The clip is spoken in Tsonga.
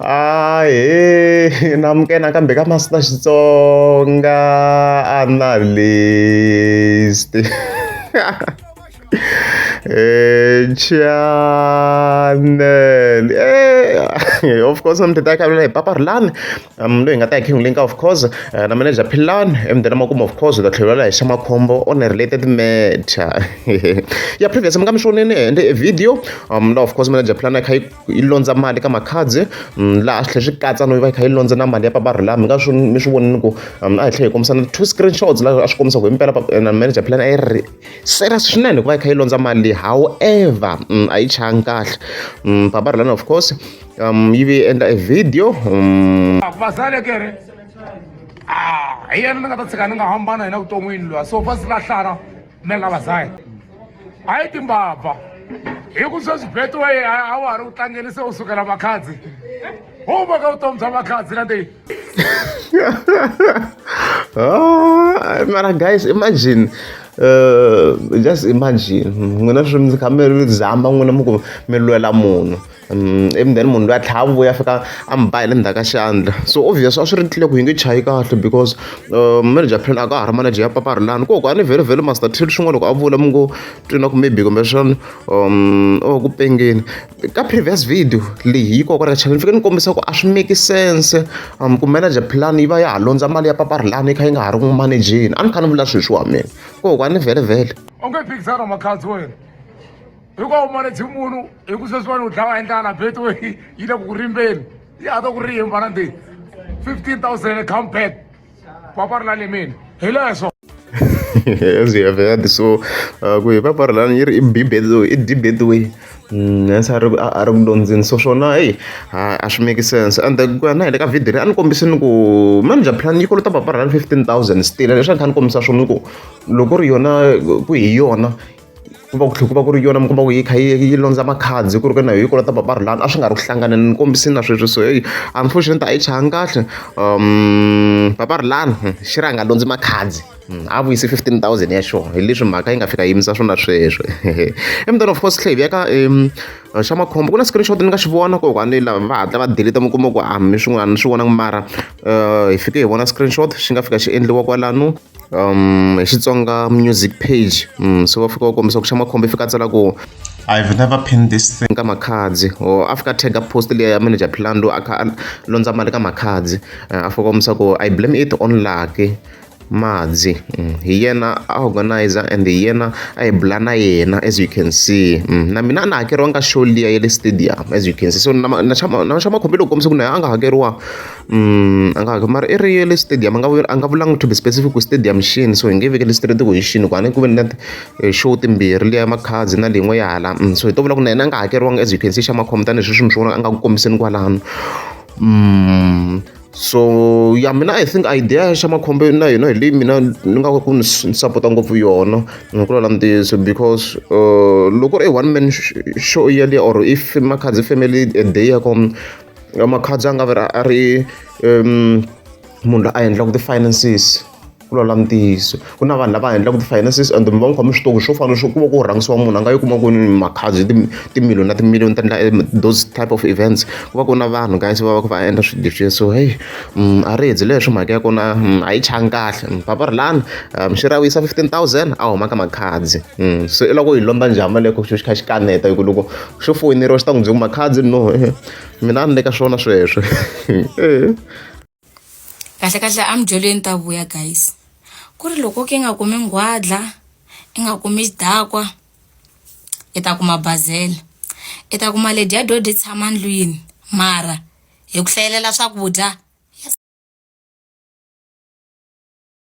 Ahee na muke nakambe ka Master Xitsonga Analyst channel e of course na mudede akavela hi papa rilani um loyi hi nga ta hi king link of course eh, na manager philani emudeni makumu of course ta tlhelela hi xa makhombo on a related matter ya previous mi nga mi swonini ende video um la of course manager philani a kha yi yi londza mali ka makhadzi mm, laha swi tlhe swi katsa no yi va yi kha yi londza na mali ya papa rhulami nga swi mi swi vonini ku mm, a hi tlhe hi kombisa na two screenshots laha a swi kombisa ku hi mpela eh, na manager plan a yi ri serious swinene hikuva yi kha yi londza mali however mm, a yi changi kahle papa rhulami of course um yi vi endla e video um vazalekere ah, hi yena ni nga ta tshika ni nga hambana hina vuton'wini lwa so va si lahlana na lava zayo a yi timbabva hi ku sweswi betway a wa ha ri u tlangeni se u sukela makhadzi u va ka vutomi bya makhadzi na leyi ah, mara guys imagine uh, just imagine n'wina swi mi kha mi zama n'wina mi ku mi lwela munhu ivi then munhu luya a tlhela a vuya a fika a mi ba hi le ndzhaku ka xandla so obvious a swi ri tlhelo ku yi nge chayi kahle because manager plan a ka ha ri manager ya papa rilani ku ku a ni vhele vhele master till swin'wana loko a vula mi ngo twi na ku maybe kumbexana o ku pengeni ka previous video leyi yi kokwana ka channel ni fike ni kombisa ku a swi make sense ku manager plan yi va ya ha londza mali ya papa rilani yi kha yi nga ha ri n'wi manejeni a ni kha ni vula sweswi wa mina ku ku a ni vhele vhele onge phikizana makhadzi wena hikuva umanedzi munhu hi ku sweswiwani u dlawa hi ndlala beto yi le ku ku rimbeni yi hata ku rimba na ndi 15000 come back papa ri la lemeni hi leswo as we have heard so uh, ku hi papa ri lani yi ri i bibetway i dibetway nsa mm, a ri ku dyondzeni so swona heyi a swi make sense and ku ya na hi le ka video leyi a ni kombise ni ku manager plan yi kolota papa ri lani fifteen thousand still leswi a ni kha ni kombisa swona ni ku loko ri yona ku hi yona ku va ku tlhela ku va ku ri yona mi kuma ku yi kha yi yi londza makhadzi ku ri ka na yi kolota papa rilani a swi nga ri ku hlanganeni ni kombisini na sweswi so heyi unfortunate a yi chayanga kahle um papa rilani hmm, xi ri a nga londzi makhadzi hmm, a vuyise fifteen thousand ya xona hi leswi mhaka yi nga fika yimisa swona sweswo emntani of course tlhe hi veka um xa makhombo ku na screenshot ni nga xi vona ko kwani lava va hatla va deleta mi kuma ku a mi swin'wana ni swi vona mara um hi fike hi vona screenshot xi nga fika xi endliwa kwalano um hi xitsonga music page um so va fika va kombisa ku xa makhombo i fika a tsala ku I've never pinned this thing ka makhadzi or a fika tag up post leyi ya manager plan loyi a kha a londza mali ka makhadzi eh, a fika kombisa ku i blame it on lucky madzi mm, hi yena a organizer and hi yena a hi bula na yena as you can see mm, na mina a na hakeriwanga show liya ya le stadium as you can see so na xa makhombi loko kombisa ku na yena a nga hakeriwa Mm, a nga hakeli mara i ri ye le stadium a nga a nga vulanga to be specific ku stadium xini so hi nge vekeli straight ku hi xini ku a ni ku ve ni na eh, show timbirhi leya makhadzi na leyin'we ya hala mm, so hi to vula ku na yena a nga hakeriwanga as you can see xa makhombo tanihi sweswi mi swi vona a nga ku kombiseni kwalano mm, so ya mina i think idea xa makhombo na yona hi leyi mina ni nga ku ni sapota ngopfu yona ni nga ku lala ntiyiso because uh, loko ri i one man show yaliya or if makhadzi family a day ya kona Makhadzi a nga va a ri munhu loyi a endlaka ti-finances ku lawula ntiyiso ku na vanhu lava endlaka ti-finances and mi va mi kha mi swi tiva ku swo fana swo ku va ku rhangisiwa munhu a nga yi kuma kwini makhadzi timiliyoni na timiliyoni ta endla those type of events ku va ku na vanhu guys va va ka va endla swilo leswiya so heyi a ri endli leswi mhaka ya kona a yi changi kahle papa ri lani minxeri a vuyisa fifteen thousand a huma ka makhadzi so i lava ku yi londza njhani mali ya kona xilo xi kha xi kaneta hi ku loko xo foyineriwa xi ta n'wi byi kuma khadi no mina a ni le ka swona sweswo kahle kahle a midyolweni ta vuya guys ku ri loko ke nga kumi nghwadla i nga kumi xidakwa i ta kuma bazela i ta kuma lady ya dodi tshama ndlwini mara hi ku hlayelela swakudya